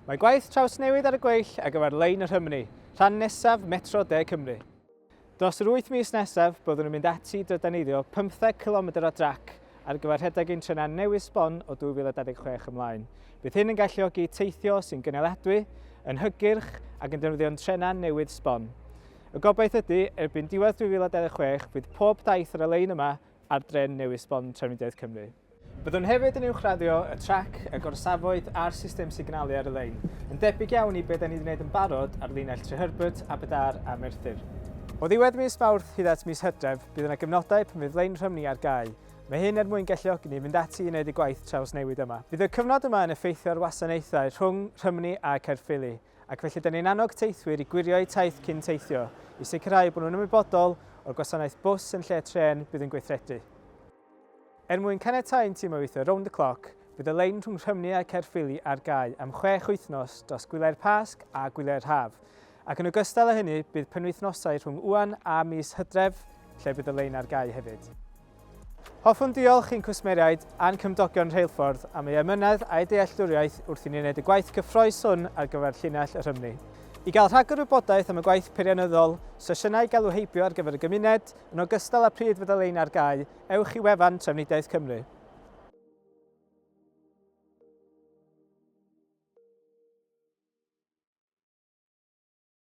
Mae gwaith trawsnewid ar y gweill ar gyfer lein y Rhymni, rhan nesaf Metro De Cymru. Dros yr wyth mis nesaf, byddwn yn mynd ati i drydaneiddio 15 cilomedr o drac ar gyfer rhedeg ein trenau newydd sbon o 2026 ymlaen. Bydd hyn yn galluogi teithio sy'n gynaliadwy, yn hygyrch ac yn defnyddio'n trenau newydd sbon. Y gobaith ydy, erbyn diwedd 2026, bydd pob daith ar y lein yma ar dren newydd sbon Trafnidiaeth Cymru. Byddwn hefyd yn uwchraddio y trac, y gorsafoedd a'r system signalu ar y lein, yn debyg iawn i be da ni wedi gwneud yn barod ar linell Treherbert, Aberdâr a Merthyr. O ddiwedd mis Mawrth hyd at mis Hydref, bydd yna gyfnodau pan fydd lein Rhymni ar gau. Mae hyn er mwyn galluogi ni fynd ati i wneud y gwaith trawsnewid yma. Bydd y cyfnod yma yn effeithio ar wasanaethau rhwng Rhymni a Caerffili, ac felly da ni'n annog teithwyr i gwirio eu taith cyn teithio, i sicrhau bod nhw'n ymwybodol o'r gwasanaeth bws yn lle trên bydd yn gweithredu. Er mwyn caniatáu'n tîm o weithio rownd y cloc, bydd y lein rhwng Rhymni a Caerffili ar gau am chwech wythnos dros gwyliau'r Pasg a gwyliau'r Haf, ac yn ogystal â hynny bydd penwythnosau rhwng ŵan a mis Hydref lle bydd y lein ar gau hefyd. Hoffwn ddiolch i'n cwsmeriaid a'n cymdogion rheilffordd am ei emynedd a'u dealltwriaeth wrth i ni wneud y gwaith cyffroes hwn ar gyfer llinell y Rhymni. I gael rhagor o wybodaeth am y gwaith peirianyddol, sesiynau galw heibio ar gyfer y gymuned, yn ogystal â pryd fydda lein ar gau, ewch i wefan Trafnidiaeth Cymru.